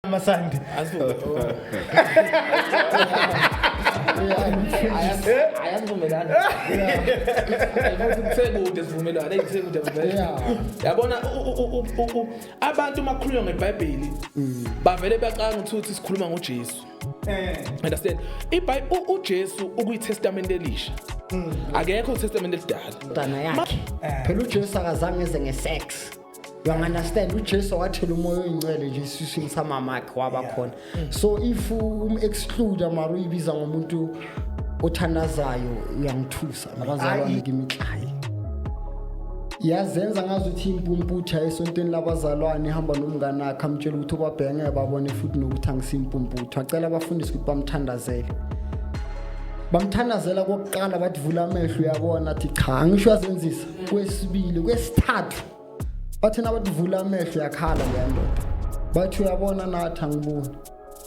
amasandi ayavumelana kusekude sivumelana eyi kusekude yabona abantu uma kukhulunywa ngebhayibheli bavele bacanga ukuthi sikhuluma ngojesu Eh. understand ibhayi ujesu ukuyitestamente elisha mm. akekho utestamente elidala mntana yakhe eh. phela ujesu akazange eze ngesex you understand ujesu wathela umoya oyincele nje esiswini samamakhe waba khona mm. so if um-exclude mara uyibiza ngomuntu othandazayo uyangithusa abazalwane kimi hayi yazenza ngazi ukuthi impumputha esontweni labazalwane ihamba nomngane akhe amtshela ukuthi ubabheka ngeke babone futhi nokuthi angisimpumputha acela abafundisi ukuthi bamthandazele bamthandazela kokuqala bathi vula amehlo uyabona athi cha angisho yazenzisa kwesibili kwesithathu bathina bathi vula amehlo yakhala leya ndoda bathi uyabona nathi angiboni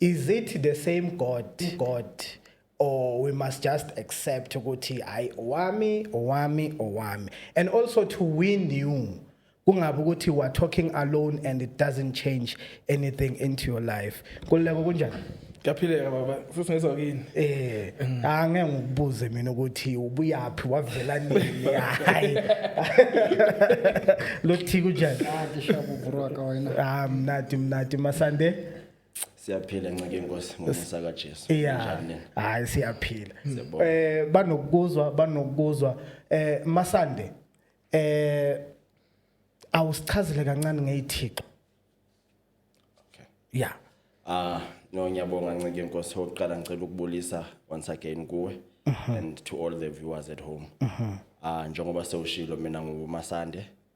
is it the same god god or we must just accept ukuthi hayi owami owami owami and also to win you kungabe ukuthi you are talking alone and it doesn't change anything into your life kululeko kunjani Ngiyaphileka baba, futhi ngizwa kini. Eh, angeke ngikubuze mina ukuthi ubuyaphi wavela nini. Hayi. Lothi kunjani? Ngisho ubro ka wena. Ah, mnati mnati masande. siyaphila ncike inkosi ngomusa kaJesu yeah hayi siyaphila eh banokuzwa banokuzwa eh masande eh awusichazile kancane ngeyithixo okay yeah ah no ngiyabonga ncike inkosi oqala ngicela ukubulisa once again kuwe uh mhm. -huh. and to all the viewers at home uh mhm. -huh. ah njengoba sewushilo mina ngumasande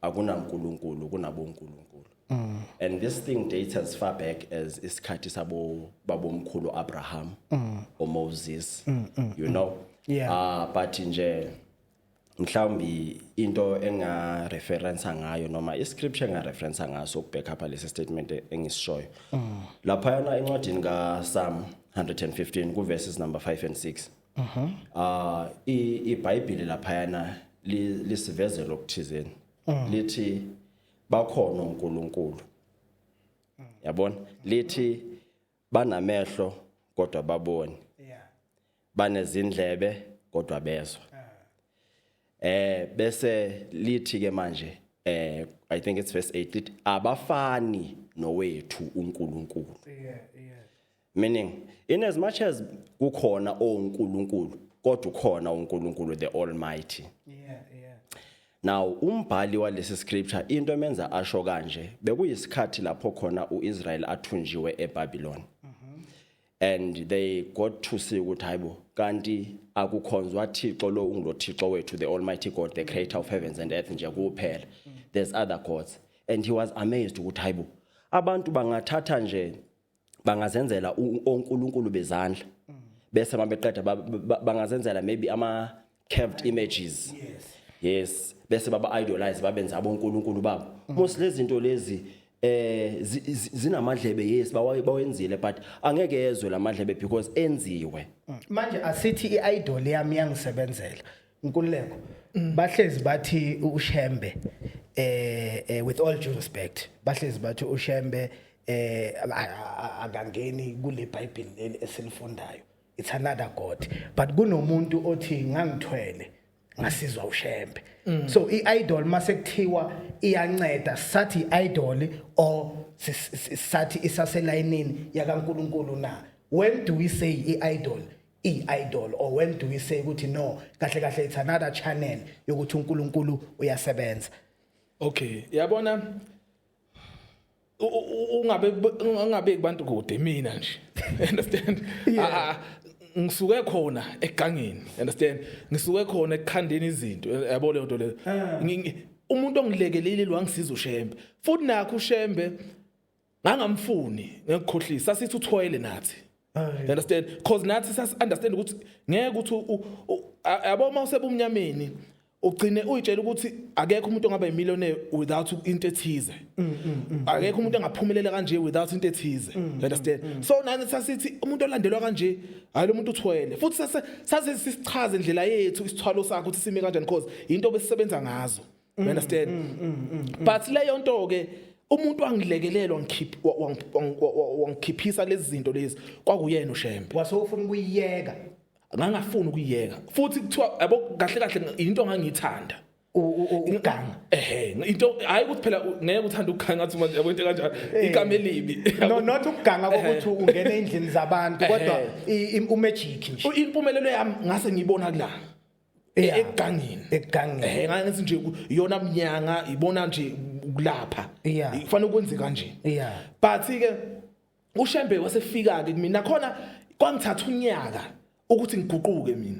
akunankulunkulu kunabonkulunkulu mm. and this thing dates as far back as isikhathi sabo babomkhulu Abraham mm. or Moses mm, mm, you mm. know yeah. uh, but nje mhlawumbi into enga reference ngayo noma i scripture enga reference ngaso ukubheka lapha lesi statement engisishoyo mm. lapha yana encwadini ka Psalm 115 ku verses number 5 and 6 Mhm. Ah i- iBhayibheli laphayana li- lisivezela okuthizeni. Mm. Lithi bakhona uNkulunkulu. Yabona? Lithi banamehlo kodwa baboni. Yeah. Banezindlebe kodwa bezwa. Eh bese lithi ke manje eh I think it's verse 8 lithi abafani nowethu uNkulunkulu. Yeah, yeah. meaning in as much as kukhona onkulunkulu kodwa ukhona uNkulunkulu the Almighty yeah yeah now umbhali walesi scripture into emenza asho kanje bekuyisikhathi lapho khona uIsrael athunjiwe eBabylon mm -hmm. and they got to see ukuthi hayibo kanti akukhonzwa Thixo lo ungulothixo wethu the Almighty God the creator of heavens and earth nje kuphela mm. there's other gods and he was amazed ukuthi hayibo abantu bangathatha nje bangazenzela onkulunkulu bezandla bese uma beqeda bangazenzela maybe ama curved images yes bese baba idolize babenza abonkulunkulu babo most lezi zinto lezi eh zinamadlebe yes bawenzile but angeke yezwe lamadlebe because enziwe manje asithi iidol yami yangisebenzela Nkululeko bahlezi bathi uShembe eh, eh with all due respect bahlezi bathi uShembe eh akangeni kule Bible leli esilifundayo it's another god but kunomuntu othi ngangithwele ngasizwa uShembe mm. so iidol mase kuthiwa iyanceda sathi idol or sathi isaselayinini yakaNkuluNkulu na when do we say iidol i-idol or when do we say ukuthi no kahle kahle it's another channel yokuthi uNkulunkulu uyasebenza okay yabona u- u- ungabe ungabe kubantu kude mina nje understand Yeah. Ah, ah, ngisuke khona egangeni understand ngisuke khona ekukhandeni izinto yabo leyo nto leyo Ngi- ngi- umuntu ongilekelile wangisiza ushembe futhi nakho ushembe ngangamfuni ngekukhohlisa sasithi uthwele nathi you understand because nathi sasi understand ukuthi ngeke ukuthi yabo uma usebumnyameni ugcine uyitshela ukuthi akekho umuntu ongaba yimillionaire without into ethize mm, mm, mm, akekho umuntu engaphumelela kanje without into ethize you understand so nani sasithi umuntu olandelwa kanje hayi lo muntu uthwele futhi sase sase sisichaze indlela yethu isithwalo sakhe ukuthi sime kanjani because into besisebenza ngazo you mm, understand mm, mm, mm, mm. but leyo nto ke umuntu wangilekelela wangikhiphisa lezi zinto lezi kwakuyena ushembe wase ufuna ukuyiyeka ngangafuni ukuyiyeka futhi kuthiwa yabo kahle kahle into ngangiyithanda uganga ehe into hayi ukuthi phela ngeke uthanda ukuganga athi manje yabo into kanjalo eh. igama elibi no not ukuganga ukuthi ungena endlini zabantu kodwa i magic nje impumelelo yami ngase ngiyibona kulana Yeah. egangeni Egangeni. ehe ngangithi nje ku- iyona mnyanga ibona nje kulapha Yeah. kufanele kwenze kanje Yeah. but ke ushembe wasefika ke mina khona kwangithatha unyaka ukuthi ngiguquke mina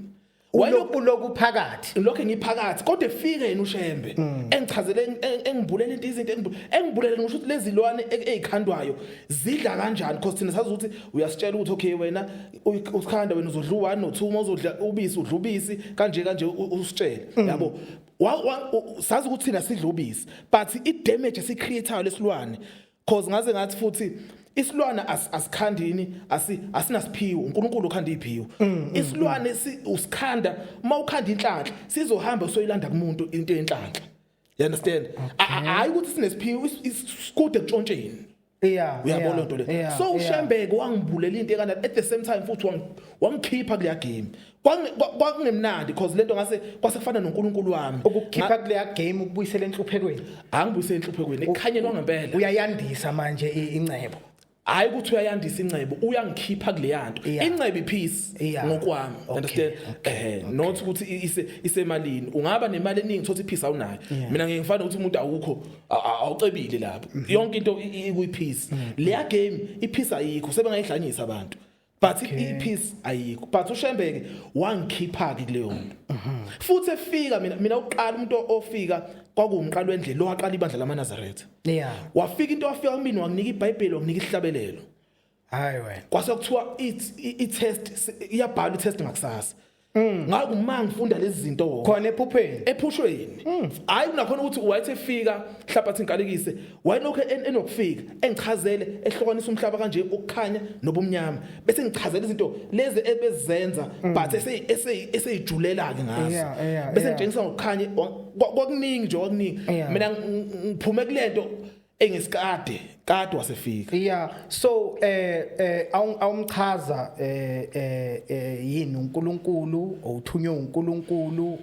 Wayelo- Uloku loku phakathi. lokho ngiphakathi kodwa efike yena ushembe Mm. engichazele eng- eng- engibulele into izinto engibu- engibulele ngisho ukuthi lezilwane e- ezikhandwayo zidla kanjani because thina sazi ukuthi uyasitshela ukuthi okay wena usikhanda wena uzodla u1 no2 uma uzodla ubisi udla ubisi kanje kanje usitshele mm. yabo sazi ukuthi thina sidla ubisi but i damage esi creator lesilwane cause ngaze ngathi futhi isilwane asikhandini asi asinasiphiwo uNkulunkulu ukhanda iphiwo mm, mm, isilwane usikhanda uma ukhanda inhlanhla sizohamba soyilanda kumuntu into yenhlanhla you understand hayi ukuthi sinesiphiwo isikude kutshontsheni Yeah, uyabona yeah, into le yeah, so ushembeke wangibulela into ekana at the same time futhi wangikhipha kuleya game kwakungemnandi because lento ngase kwasefana noNkulunkulu wami ukukhipha kuleya game ukubuyisela enhluphekweni angibuyisela enhluphekweni ekhanyeni wangempela uyayandisa manje incebo hayi ukuthi uyayandisa incebo uyangikhipha kuleya nto incebo ipeace ngokwami understand eh not ukuthi isemalini ungaba nemali eningi thothi ipeace awunayo mina ngeke ngifane ukuthi umuntu awukho awucebile lapho mhm. yonke into ikwipeace mhm. leya game ipeace ayikho sebengayihlanyisa abantu but ipeace ayikho but ushembeke wangikhipha ke kuleyo nto mhm. futhi efika mina mina uqala umuntu ofika kwakuwumqalo wendlela lo waqala ibandla lamaNazaretha yeah wafika into wafika kumina wanginika iBhayibheli wanginika isihlabelelo hayi wena kwase kuthiwa i-test iyabhala i-test ngakusasa mm. ngaku ma ngifunda lezi zinto wona khona ephupheni ephushweni mm. hayi kunakhona ukuthi wayethi efika hlabathi inkalekise wayenokho enokufika engichazele ehlukanisa umhlaba kanje ukukhanya nobumnyama bese ngichazela izinto lezi ebezenza mm. but eseyijulela ke ngazo bese ngitshengisa ngokukhanya kwakuningi nje kwakuningi mina ngiphume kulento engesikade kade wasefika yeah so eh eh awumchaza eh, eh eh yini uNkulunkulu owuthunywe uNkulunkulu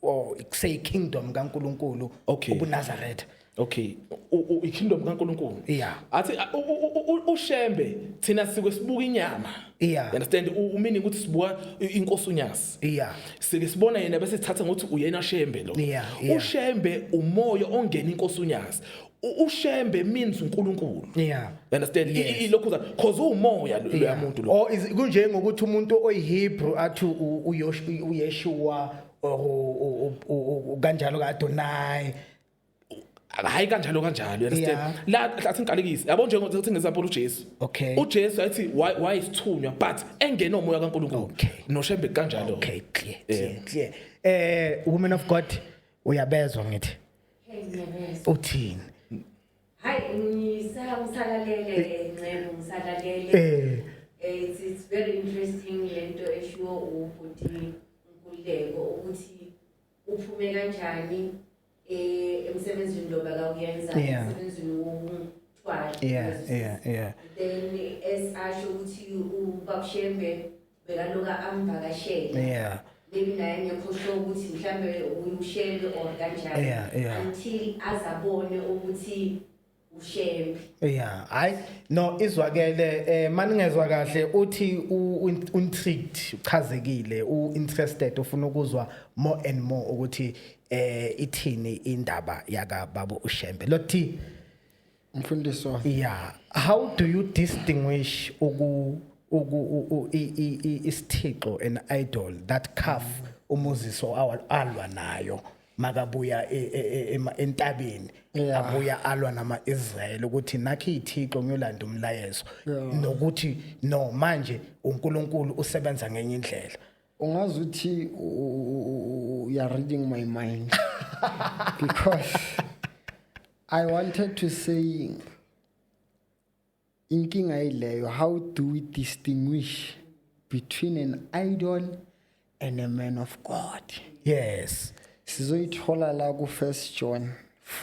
or say kingdom kaNkulunkulu okay. ubuNazareth okay ikingdom kaNkulunkulu yeah athi ushembe thina sike sibuka inyama yeah understand umini ukuthi sibuka inkosi unyasi yeah sike sibona yena bese sithatha ngokuthi uyena shembe lo yeah, yeah. ushembe umoya ongena inkosi unyazi ushembe means uNkulunkulu yeah you understand yes. ilokhu that cause umoya lo yeah. muntu lo oh is kunje ngokuthi umuntu oyihebrew athi uyeshua or kanjalo kaAdonai hayi kanjalo kanjalo you understand Yeah. la la singiqalekise yabo njengoba sithi ngesampolo uJesu Okay. uJesu athi why why isithunywa but engena umoya kaNkulunkulu Okay. noshembe kanjalo okay clear clear clear eh woman of god uyabezwa ngithi uthini Hayi ngisala ngisalalele ncebo ngisalalele eh Eh, it's, it's very interesting lento eshiwo ubhuti Nkululeko ukuthi uphume kanjani eh, emsebenzini lo bakawuyenza Yeah. emsebenzini wokuthwala yeah yeah yeah then as asho ukuthi ubabshembe bekaloka amvakashele yeah maybe naye ngekho sho ukuthi mhlawumbe uyushele or kanjani Yeah, yeah. until azabone ukuthi ushembe yeah hayi no izwakele eh maningezwa kahle uthi untricked uchazekile uinterested ufuna ukuzwa more and more ukuthi eh ithini indaba yaka babu ushembe lothi mfundiswa yeah how do you distinguish uku uku isithixo an idol that calf umuziso alwa nayo makabuya e, e, e, entabeni abuya alwa nama-israyeli ukuthi nakhi ithixo ngiyolanda umlayezo nokuthi no manje unkulunkulu usebenza ngenye indlela ungazi ukuthi you are reading my mind because i wanted to say inkinga ileyo how do we distinguish between an idol and a man of god yes sizoyithola la ku first john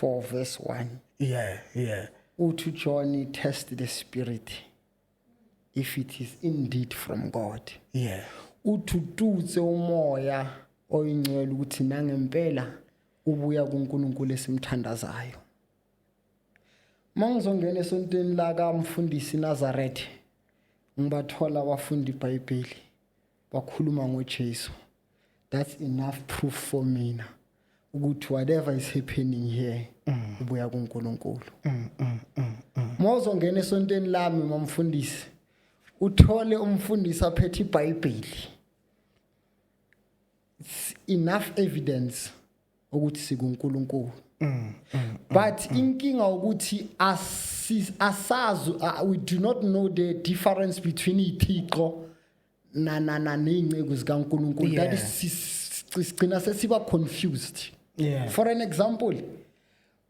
4 verse 1 yeah yeah uthi john test the spirit if it is indeed from god yeah uthututse umoya oyingcwele ukuthi nangempela ubuya kuNkulunkulu esimthandazayo uma ngizongena esontweni lakamfundisi Nazareth ngibathola abafundi iBhayibheli bakhuluma ngoJesu that's enough proof for mina ukuthi whatever is happening here mm. ubuya kuNkulunkulu mm, mm, mozongena esontweni lami mamfundisi uthole umfundisi aphethe iBhayibheli enough evidence ukuthi sikuNkulunkulu mm, mm, mm, but inkinga ukuthi asazi uh, we do not know the difference between ithixo na na na nezinceku zikaNkulunkulu that is sigcina sesiba confused yeah. for an example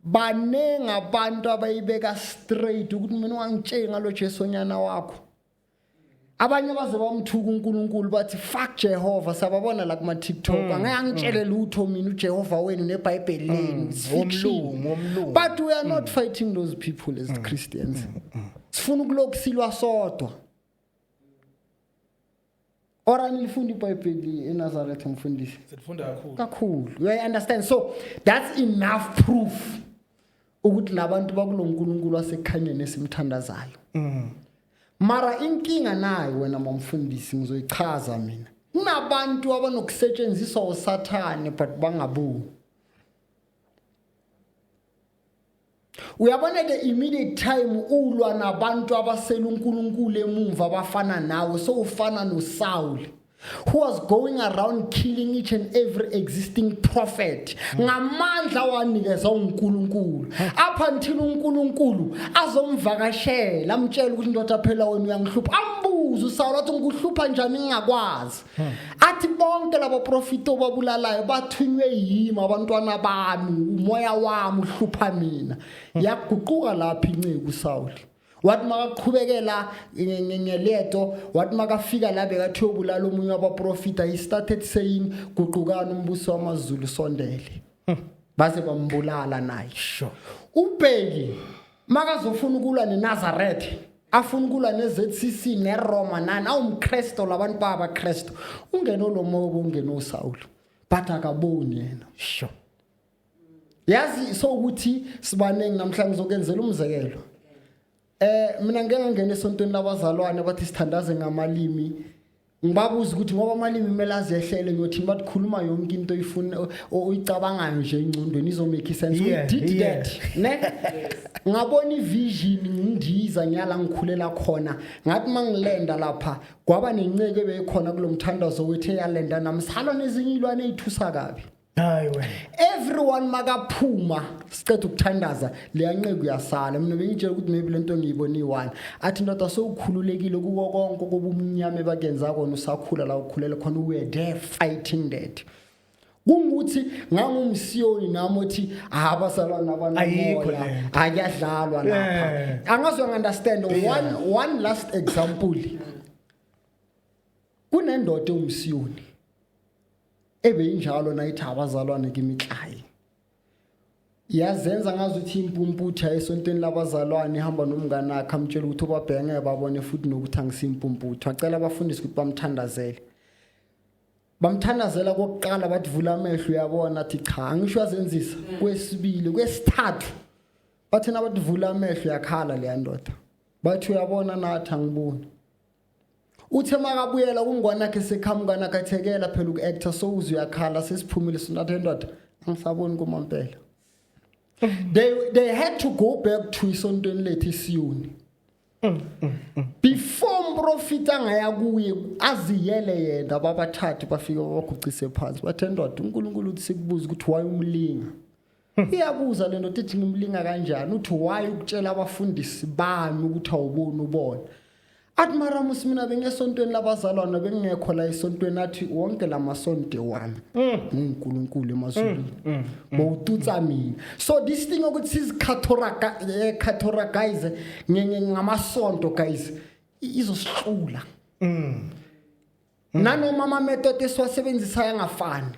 baningi abantu abayibeka straight ukuthi mina ungangitsheli ngalo Jesu onyana wakho abanye baze bamthuka uNkulunkulu bathi fuck Jehova sababona la kuma TikTok mm, angeke angitshele mm. lutho mina uJehova wenu neBhayibheli mm, lenu umlungu umlungu but we are not fighting those people as Christians sifuna ukulokusilwa sodwa or anilifunda ibhayibheli enazaretha mfundisi silifunda kakhulu kakhulu you understand so that's enough proof ukuthi labantu bakulo nkulunkulu wasekhanyeni esimthandazayo mm. mara inkinga nayo wena mamfundisi ngizoyichaza mina kunabantu abanokusetshenziswa usathane but bangaboni uyabona ke immediate time ulwa nabantu abasela uNkulunkulu emumva abafana nawe so ufana noSawule who was going around killing each and every existing prophet ngamandla wanikezwa uNkulunkulu up until uNkulunkulu azomvakashela amtshela ukuthi ndoda phela wena uyangihlupha ambuza uSawula ukuthi ngikuhlupha njani ngingakwazi athi bonke labo profita obabulalayo bathunywe yimi abantwana bami umoya wami uhlupha mina yaguquka lapha inceku sawuli wathi makaqhubekela ngeleto wathi makafika la bekathi yobulala omunye wabaprofita he started saying guqukani umbuso wamazulu sondele hmm. baze bambulala naye sure ubheki makazofuna ukulwa neNazareth afuna ukulwa ne-zcc neroma nani awumkristo labantu babakristo ungene olomobo ungene osawulo but akaboni yena sho yazi so ukuthi sibaningi namhlanje ngizokenzela umzekelo eh mina ngeke ngangena esontweni labazalwane bathi sithandaze ngamalimi ngibabuza ukuthi ngoba amalimi kumele azehlele ngiyothini bathi khuluma yonke into oyifuna oyicabangayo nje engcondweni izomake sense yeah, we did yeah. that ne ngabona ivision ngindiza ngiyala ngikhulelwa khona ngathi mangilenda lapha kwaba nenceke beyikhona kulomthandazo wethe yalenda nami salo nezinye ilwane ezithusa kabi hayi wena everyone makaphuma siceda ukuthandaza leyanqeku yasala mina bengitshela ukuthi maybe lento ngiyibona iwani athi ndoda sowukhululekile kuko konke kobumnyama bakenza kona usakhula la ukhulele khona we there fighting that kungukuthi ngangumsiyoni nami othi abasalwana abanamoya akuyadlalwa lapha angazi ungunderstand one one last example kunendoda ewumsiyoni ebeyinjalo nayithi abazalwane kimi klayi yazenza ngazi ukuthi impumputha esontweni labazalwane ihamba nomngane akhe amtshela ukuthi obabhenge babone futhi nokuthi angisimpumputha acela abafundisi ukuthi bamthandazele bamthandazela kokuqala bathi vula amehlo uyabona athi cha angisho azenzisa mm. kwesibili kwesithathu bathina bathi vula amehlo yakhala leya ndoda bathi uyabona nathi angiboni Uthe makabuyela kungwana ke sekhamuka nakathekela phela uku-actor so uze uyakhala sesiphumile sinathe ndoda angisaboni kumampela they, they had to go back to isontweni lethu isiyuni before umprofita angaya kuye aziyele yena babathathu bafike babagucise phansi bathe ndoda unkulunkulu uthi sikubuze ukuthi wayumlinga iyabuza le ndoda ithi ngimlinga kanjani uthi why ukutshela abafundisi bami ukuthi awuboni ubona athi maramus mina bengesontweni labazalwana bengingekho la esontweni athi wonke la masonto wami mm. ngunkulunkulu emazulwini mm, mm, bowututsa mina so this thing ukuthi sizikhathoragize eh, ngamasonto guys izosixula nanoma amametode esiwasebenzisayo angafani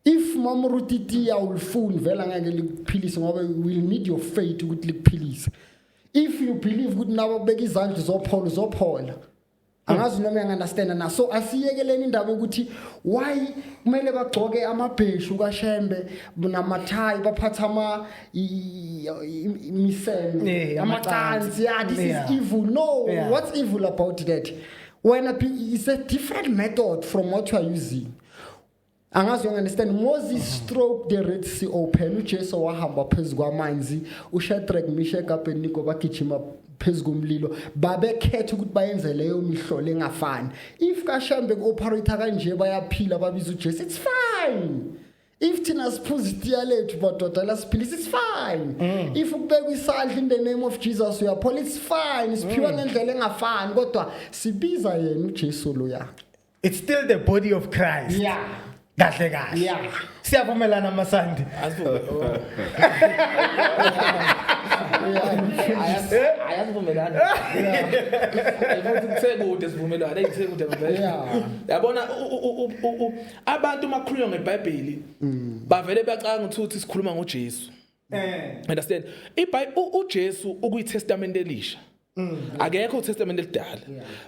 if mom rutiti awulifuni vele angeke likuphilise ngoba you will need your faith ukuthi likuphilise if you believe ukuthi nawe kubeka izandla uzophola uzophola angazi noma uyangunderstanda na so asiyekeleni indaba yokuthi why kumele bagcoke amabheshu kashembe namathayi baphathe ama imiseme amacansi yeah this is evil no what's evil about that wena it's a different method from what you are using angazi ungandistand moses stroke the red sea open ujesu wahamba phezu kwamanzi ushadrack mishek abednego bagijima phezu komlilo babekhetha ukuthi bayenze leyo mihlolo engafani if kashambe ku-operator kanje bayaphila babiza ujesu it's fine if thina siphuza itiya lethu madoda lasiphilisa it's fine mm. if ukubeka isandla in the name of jesus uyaphola it's fine siphiwa mm. ngendlela engafani kodwa sibiza yena ujesu loya it's still the body of christ yeah kahle kahle yeah siyavumelana masandi ayazivumelani futhi kusekude sivumelwano eyisekude ngempela yabona abantu makhulunywa ngebhayibheli mm. bavele bacanga ukuthi uthi sikhuluma ngoJesu eh understand ibhayibheli uJesu ukuyitestament elisha Mm. Akekho uTestament elidala.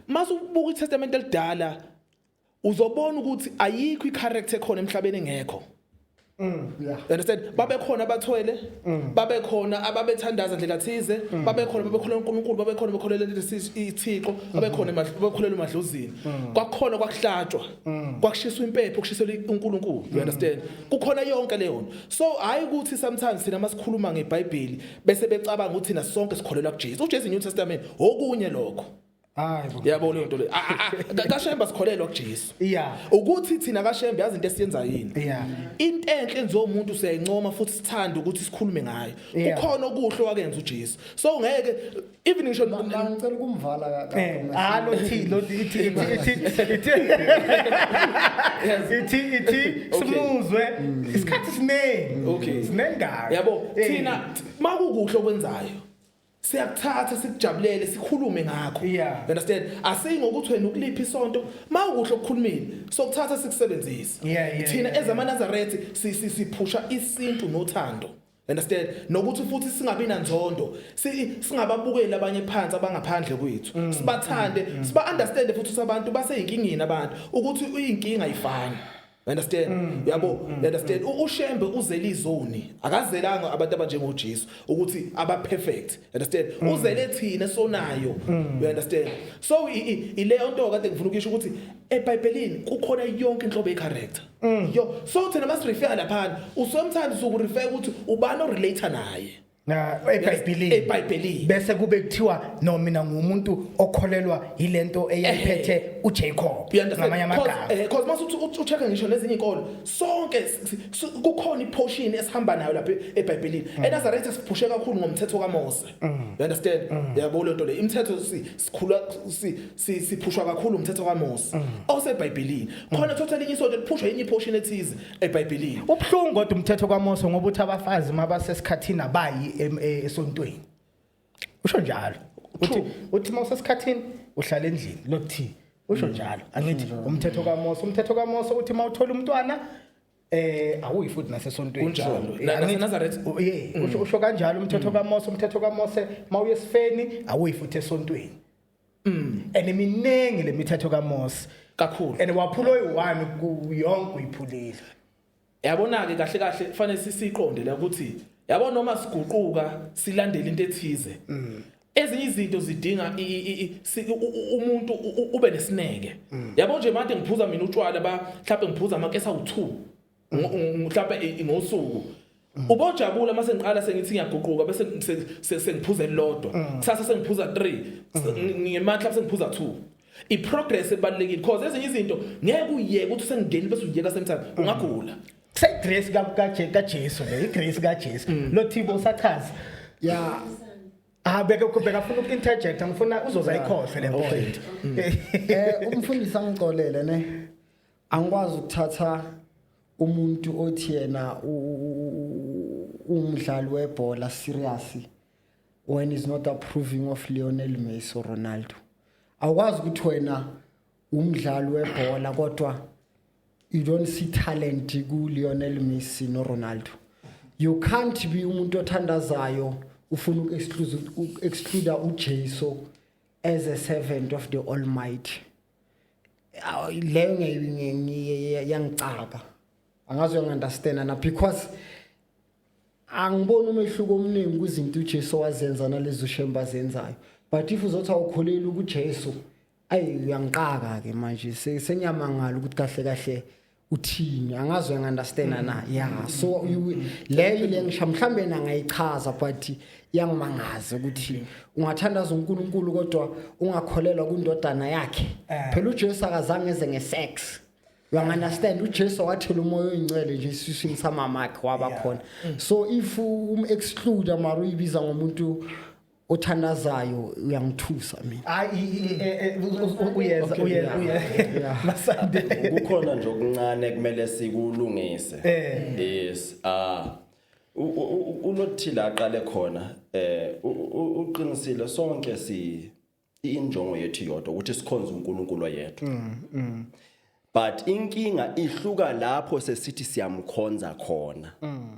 Mase ubuka iTestament elidala uzobona ukuthi ayikho icharacter ekhona emhlabeni engekho. Mm, yeah. Understand? Babekhona abathwele, mm. babekhona ababethandaza ndlela thize, mm. babekhona babekhona uNkulunkulu, babekhona bekholela ithixo, mm-hmm. babekhona bakholela umadlozini. Mm. Kwakhona kwakuhlatshwa, mm. kwakushiswa impepho, kushiselwa uNkulunkulu. You understand? Kukhona yonke leyo nto. So hayi ukuthi sometimes sina masikhuluma ngeBhayibheli, bese becabanga ukuthi thina sonke sikholelwa kuJesu uJesu New Testament okunye lokho Hayi bo. Yabo leyo nto le. Ah, ah, ah, Kashemba sikholelwa kuJesu. Yeah. Ukuthi thina kashembe yazi into esiyenza yini. Yeah. Into enhle enziwa umuntu siyayincoma futhi sithanda ukuthi sikhulume ngayo. Yeah. Kukhona okuhle wakenza uJesu. So ngeke even ngisho ngicela ukumvala kaka eh, ah lo thi lo thi ithi ithi ithi ithi ithi simuzwe mm. isikhathi siningi okay sinengaka yabo eh. thina makukuhle okwenzayo siyakuthatha sikujabulele sikhulume ngakho you understand asiyi ngokuthi wena ukuliphi isonto mawukuhle ukukhulumile sokuthatha sikusebenzisa thina ezamanazarethi siphusha isintu nothando Understand? Nokuthi futhi singabi nanzondo, si- singababukeli abanye phansi abangaphandle kwethu. Mm, Sibathande, mm, mm. siba understand futhi ukuthi abantu baseyinkingeni abantu ukuthi uyinkinga ayifani. Understand? Mm, Yabo, understand? U- UShembe uzele izoni. Akazelanga abantu abanjengoJesu ukuthi aba perfect. Understand? Uzele thina sonayo. You understand? So i- i- ileyo nto kade ngifuna ukuyisho ukuthi eBhayibhelini kukhona yonke inhlobo ye character. Mm, yo so thina masirefere laphana usometimes ukurefere ukuthi ubani orelator naye Na eBhayibhelini. eBhayibhelini. Bese kube kuthiwa no mina ngumuntu okholelwa yilento eyayiphethe uJacob. You understand? Ngamanye amagama. Because because mase uthi uthi- ucheck ngisho nezinye inkolo sonke s- s- s- kukhona iportion esihamba nayo lapha e- eBhayibhelini. ENazareth siphushe kakhulu ngomthetho kaMose. You understand? Yabo lento le imithetho si- sikhula si- si- siphushwa kakhulu umthetho kaMose osebhayibhelini khona thothi elinye isonto liphushwa enye iphoshin ethize ebhayibhelini ubuhlungu kodwa umthetho kwaMose ngoba uthi abafazi uma basesikhathini abayi em- e- esontweni usho njalo uthi True. uthi uma usesikhathini uhlala endlini lokuthi usho njalo angithi umthetho kwaMose umthetho kwaMose uthi uma uthola umntwana eh awuyi futhi nasesontweni Kunjalo. So, eh, Na- angithi- naseNazareth. Mm. u- ye, usho- usho kanjalo umthetho kaMose umthetho kaMose mawuye esifeni awuyi futhi esontweni Mm. And miningi lemithetho kaMose. Kakhulu. And waphula oyi-1 ku yonke uyiphulile. Yabona ke kahle kahle kufanele sisiqonde la ukuthi yabo noma siguquka silandela into ethize. Mm. ezinye izinto zidinga umuntu ube nesineke mm. yabo nje manje ngiphuza mina utshwala ba mhlawumbe ngiphuza amakesa u2 mhlawumbe ngosuku Mm. ubojabula mase ngiqala sengithi ngiyaguquka bese sengiphuza elilodwa mm. kusasa sengiphuza 3 mm. ngematla bese ngiphuza 2 i progress ebalekile because ezinye izinto ngeke uyeke ukuthi sengingeni bese uyeka same time ungagula kuse grace ka ka ka Jesu le grace ka Jesu lo thibo usachaza ya Ah beke kubheka afuna ukinterject angifuna uzoza ikhohle le point. Eh umfundisi angicolele ne. angikwazi ukuthatha umuntu othi yena umdlali webhola serious when is not approving of Lionel Messi or Ronaldo awukwazi ukuthi wena umdlali webhola kodwa you don't see talent ku Lionel Messi no Ronaldo you can't be umuntu othandazayo ufuna uku-exclude ujesu as a servant of the almighty leyo yangicaka angazi uyangi-understanda na because angiboni umehluko omningi kwizinto ujesu wazenza nalezo shembe azenzayo but if uzothi awukholeli ukujesu ayi uyangiqaka-ke manje sengiyamangala ukuthi kahle kahle uthini angazi uyangiunderstanda mm. na ya mm. so mm. leyo le ngisho mhlawumbe nangayichaza but iyangimangaza ukuthi ungathandaza uNkulunkulu kodwa ungakholelwa kundodana yakhe eh. phela uJesu akazange eze ngesex uyangiunderstand uJesu wathela umoya oyingcwele nje isiswini samamakhe waba khona so if um exclude mara uyibiza ngomuntu othandazayo uyangithusa mina hayi uyeza uyeza uyeza masande kukhona nje okuncane kumele sikulungise eh. yes ah unothile aqale khona eh uqinisile sonke si injongo yethu yodwa ukuthi sikhonze uNkulunkulu oyedwa mm, mm. but inkinga ihluka lapho sesithi siyamkhonza khona mm.